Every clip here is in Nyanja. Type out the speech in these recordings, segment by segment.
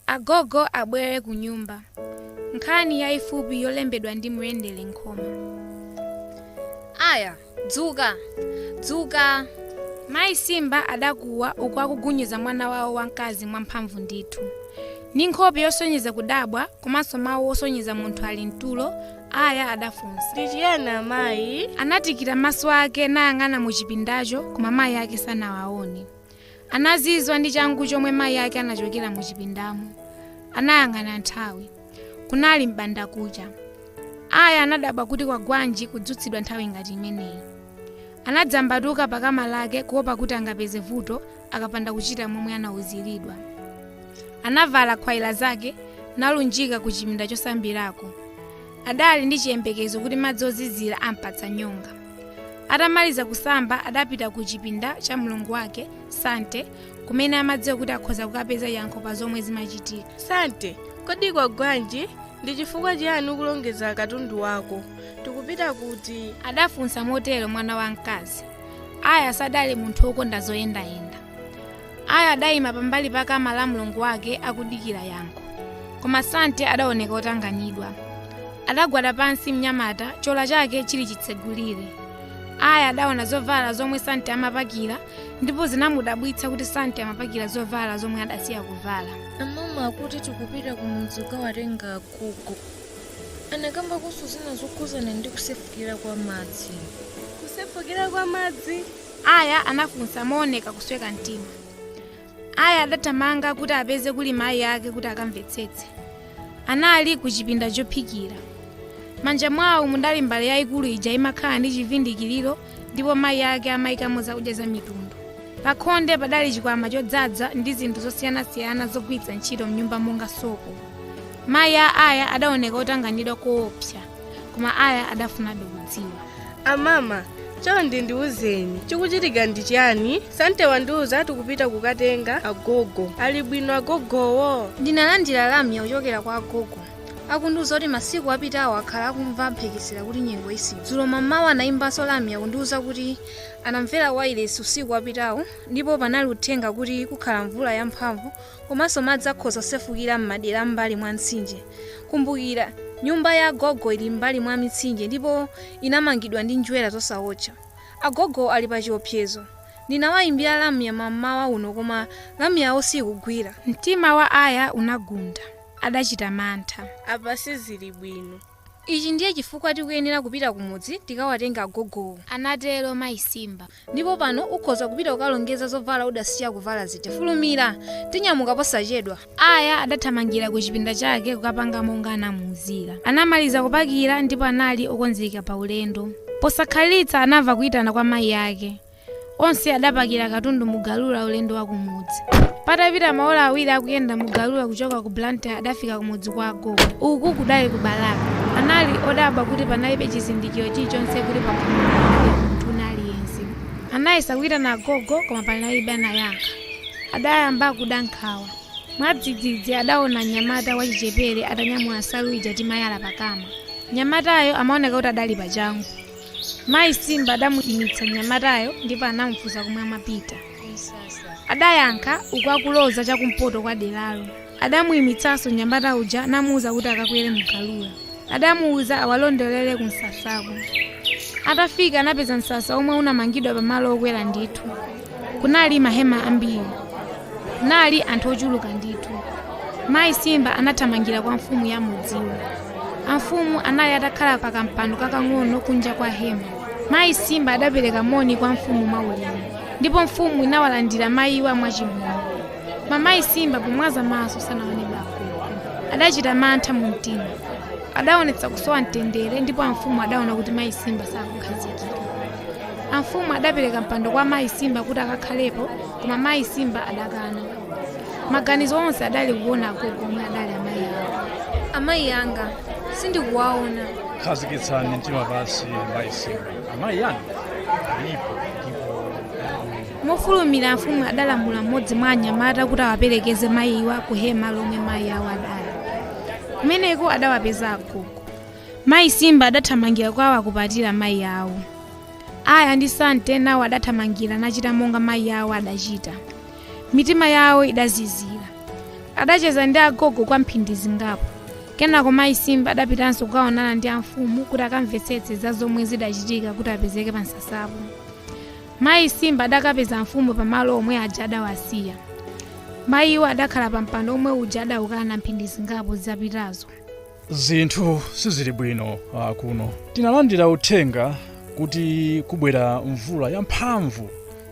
agogo abwere ku nyumba nkhani yayifupi yolembedwa ndi muyendere nkhoma aya dzuka dzuka mayi simba adakuwa uku akugunyiza mwana wawo wamkazi mwamphamvu ndithu ndi nkhope yosonyeza kudabwa komanso mawu osonyeza munthu ali mtulo aya adafunsa ndi chiyani amayi anatikira maso ake nayang'ana mu chipindacho koma mayi ake sanawaone Anazizwa ndi changu chomwe mayi ake anachokera mu chipindamo. Anayang'ana nthawi. Kunali m'bandakucha. Aya anadabwa kuti kwagwanji kudzutsidwa nthawi ngati imeneyi. Anadzambatuka pa kama lake kuopa kuti angapeze vuto akapanda kuchita momwe anauziridwa. Anavala nkhwaila zake nalunjika ku chipinda chosambirako. Adali ndi chiyembekezo kuti madzi ozizira ampatsa nyonga. atamaliza kusamba adapita ku chipinda cha mlongo wake sante kumene amadziwa kuti akhoza kukapeza yankho pa zomwe zimachitika sante kodi kwagwanji ndi chifukwa chiyani ukulongeza katundu wako tikupita kuti adafunsa motero mwana wamkazi aya sadali munthu wokonda zoyendayenda aya adayima pambali pa kama la mlongo wake akudikira yankho koma sante adaoneka otanganidwa adagwada pansi mnyamata chola chake chili chitsegulire aya adaona zovala zomwe sante amapakira ndipo zinamudabwitsa kuti sante amapakira zovala zomwe adasiya kuvala amama akuti tikupita ku mudzi kukawatenga agogo anakambanso zina zokhuzana ndi kusefukira kwa madzi kusefukira kwa madzi Aya anafunsa mooneka kusweka mtima. Aya adathamanga kuti apeze kuli mayi ake kuti akamvetsetse. Anali kuchipinda chophikira. Manja mwawo mudali mbale yaikulu ija imakhala ndi chivindikiriro ndipo mayi ake amaikamo zakudya zamitundu. Pakhonde padali chikwama chodzadza ndi zinthu zosiyanasiyana zogwiritsa ntchito m'nyumba monga sopo. Mayi a Aya adaoneka otanganidwa koopsa. koma aya adafunabe kudziwa amama chonde ndiwuzeni chikuchitika ndi chiyani sante wandiwuza tikupita kukatenga agogo ali bwino agogowo ndinalandira lamya kuchokera kwa agogo akundiwuza kuti masiku apitawo akhala akumva mphekesera kuti nyengo isintha dzulo mmamawa anayimbanso lamya kundiwuza kuti anamvera wailesi usiku wapitawo ndipo panali uthenga kuti kukhala mvula yamphamvu Komanso madzi akhoza kusefukira m'madera a m'mbali mwa mtsinje. Kumbukira, nyumba ya agogo ili m'mbali mwa mitsinje ndipo inamangidwa ndi njerwa zosawotcha. Agogowo ali pachiopsezo. Ndinawaimbira lamya mam'mawa uno koma lamya yawo siikugwira. Mtima wa Aya unagunda. Adachita mantha. Apa sizili bwino. Ichi ndiye chifukwa tikuyenera kupita kumudzi tikawatenge agogowo. Anatero mayi Simba. Ndipo pano ukhoza kupita kukalongeza zovala udasiya kuvala zija. Fulumira! Tinyamuka posachedwa. Aya adathamangira kuchipinda chake kukapanga monga anamuuzira. Anamaliza kupakira ndipo anali okonzeka paulendo. Posakhalitsa anamva kuitana kwa mayi ake. Onse adapakira katundu mu galula ulendo wa kumudzi. Patapita maola awiri akuyenda mu galula kuchoka ku Blantyre adafika kumudzi kwa agogo. Uku kudali ku Balaka. Anali odabwa kuti panalibe chizindikiro chilichonse kuti pakhomo pali munthu wina aliyense. Anayesa kuitana agogo koma panalibe anayankha. Adayamba kuda nkhawa. Mwadzidzidzi adaona mnyamata wachichepere atanyamula nsalu ija timayala pakama. Mnyamatayo amaoneka kuti adali pachangu. Mayi Simba adamuimitsa mnyamatayo ndipo anamufunsa komwe amapita. Adayankha uku akuloza chakumpoto kwa deralo. Adamuimitsanso mnyamata uja namuuza kuti akakwere mu galula. Adamuuza awalondolere kumsasako. Atafika anapeza msasa womwe unamangidwa pamalo okwera ndithu. kunali mahema ambiri kunali anthu ochuluka ndithu mayi simba anathamangira kwa mfumu ya mudziwo amfumu anali atakhala pa kampando kakang'ono kunja kwa hema mayi simba adapereka moni kwa mfumu mwaulemu ndipo mfumu inawalandira mayiwa mwachimwemwe koma mayi simba pomwaza maso sanaone agogo adachita mantha mu mtima adaonetsa kusowa mtendere ndipo amfumu adaona kuti mayi simba sakukhazikika amfumu adapereka mpando kwa mayi simba kuti akakhalepo koma mayi simba adakana maganizo onse adali kuona agogo omwe adali amayi awo amayi anga sindikuwaona khazikitsani mtima pansi mayi simba amayi anu alipo ndipo mofulumira amfumu adalamula mmodzi mwa anyamata kuti awaperekeze mayiwa ku hema lomwe mayi awo adali kumeneko adawapeza agogo Mayi Simba adathamangira kwawo nakupatira mayi awo. Aya ndi Sante nawo adathamangira nachita monga mayi awo adachita. Mitima yawo idazizira. Adacheza ndi agogo kwa mphindi zingapo. Kenako mayi Simba adapitanso kukaonana ndi amfumu kuti akamvetsetse za zomwe zidachitika kuti apezeke pa msasapo. Mayi Simba adakapeza amfumu pamalo omwe aja adawasiya. Mayiwo adakhala pa mpando omwe uja adaukana mphindi zingapo zapitazo. zinthu sizili bwino uh, kuno tinalandira uthenga kuti kubwera mvula yamphamvu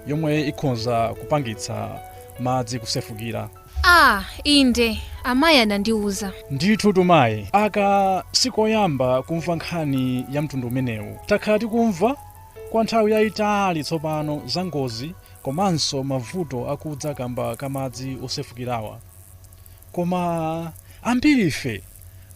yomwe ikhoza kupangitsa madzi kusefukira ah inde amayi anandiuza ndithu tumayi aka sikoyamba kumva nkhani ya mtundu umenewu takhala tikumva kwa nthawi yayitali tsopano za ngozi komanso mavuto akudza kamba ka madzi osefukirawa Koma ambirife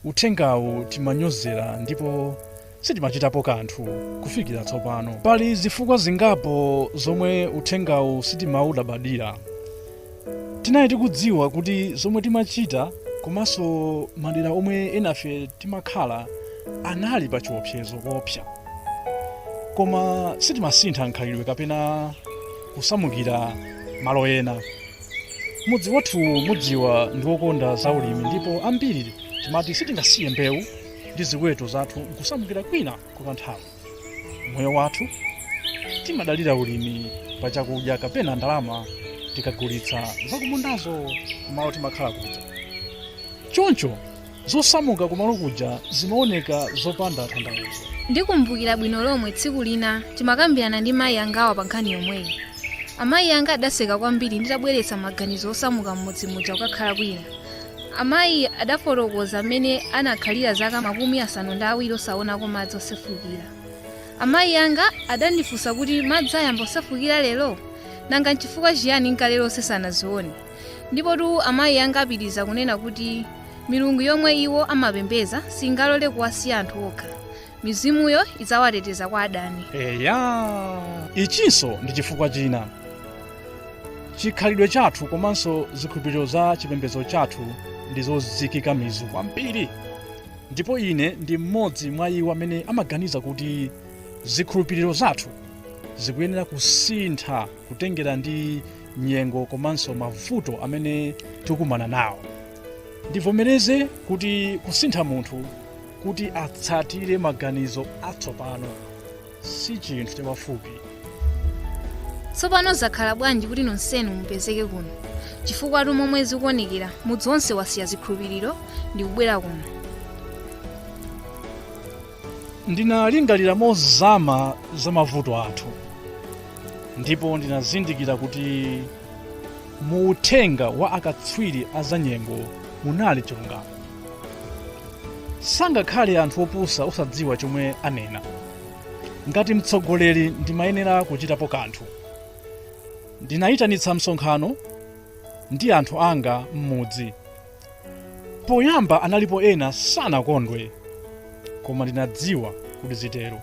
uthengawu timanyozera ndipo sitimachitapo kanthu kufikira tsopano. Pali zifukwa zingapo zomwe uthengawu sitimaulabadira. Tinali tikudziwa kuti zomwe timachita komanso madera omwe enafe timakhala anali pa chiopsezo koopsa, koma sitimasintha mkhalidwe kapena kusamukira malo ena. Mudzi wathu mudziwa ndi wokonda za ulimi ndipo ambiri timati sitingasiye mbewu ndi ziweto zathu nkusamukira kwina kwa kanthawi. Moyo wathu timadalira ulimi pa chakudya kapena ndalama tikagulitsa zakumundazo kumalo timakhala kuja. Choncho Zosamuka kumalo kuja zimaoneka zopanda tanthauzo. Ndikumbukira bwino lomwe tsiku lina timakambirana ndi mayi angawa pa nkhani yomweyi. Amayi anga adaseka kwambiri nditabweretsa maganizo osamuka m'mudzi muja kukakhala kwina. Amayi adafotokoza mmene anakhalira zaka makumi asanu ndi awiri osaonako madzi osefukira. Amayi anga adandifunsa kuti madzi ayamba kusefukira lero? Nanga n'chifukwa chiyani n'kale lonse sanazione? Ndipotu amayi anga anapitiriza kunena kuti milungu yomwe iwo amapembedza singalole kuwasiya anthu okha. Mizimuyo idzawateteza kwa adani. eya ichinso ndi chifukwa china chikhalidwe chathu komanso zikhulupiriro za chipembedzo chathu ndi zozikika mizu kwambiri ndipo ine ndi mmodzi mwa iwo amene amaganiza kuti zikhulupiriro zathu zikuyenera kusintha kutengera ndi nyengo komanso mavuto amene tikukumana nawo ndivomereze kuti kusintha munthu kuti atsatire maganizo atsopano si chinthu chapafupi tsopano zakhala bwanji kuti nonsenu mupezeke kuno chifukwatu momwe zikuonekera mudzi wonse wasiya zikhulupiriro ndi kubwera kuno Ndinalingalira mozama za mavuto athu ndipo ndinazindikira kuti mu uthenga wa akatswiri a zanyengo munali chilungamo. Sangakhale anthu opusa osadziwa chomwe anena. Ngati mtsogoleri ndimayenera kuchitapo kanthu. Ndinayitanitsa msonkhano ndi anthu anga m'mudzi Poyamba analipo ena sanakondwe, koma ndinadziwa kuti zitero.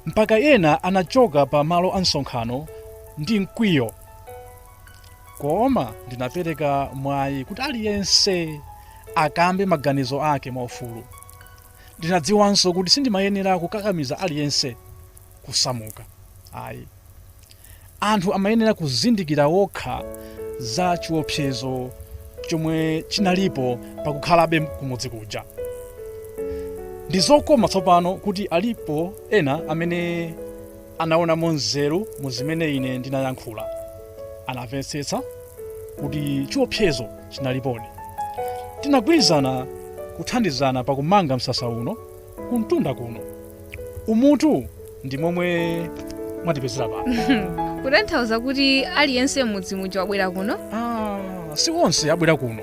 Mpaka ena anachoka pa malo a msonkhano ndi mkwiyo. Koma ndinapereka mwayi kuti aliyense akambe maganizo ake mwaufulu. Ndinadziwanso kuti sindimayenera kukakamiza aliyense kusamuka. Ayi. Anthu amayenera kuzindikira okha za chiopsezo chomwe chinalipo pa kukhalabe kumudzi kuja. Ndi zokoma tsopano kuti alipo ena amene anaonamo nzeru mu zimene ine ndinayankhula. Anamvetsetsa kuti chiopsezo chinalipodi. Tinagwirizana kuthandizana pa kumanga msasa uno. kumtunda kuno umutu ndi momwe mwatipezera pano kutanthauza kuti aliyense m'mudzi muja wabwera kuno Ah, si onse abwera kuno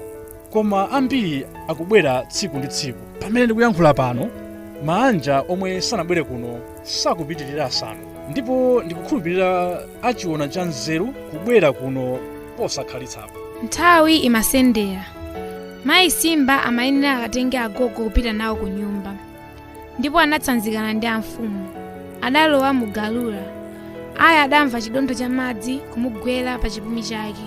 koma ambiri akubwera tsiku ndi tsiku pamene ndikuyankhula pano maanja omwe sanabwere kuno sakupitirira asanu ndipo ndikukhulupirira achiona cha nzeru kubwera kuno posakhalitsapa nthawi imasendera mayi simba amayenera akatenge agogo kupita nawo ku nyumba ndipo anatsanzikana ndi amfumu adalowa mu galula aya adamva chidontho cha madzi kumugwera pa chipumi chake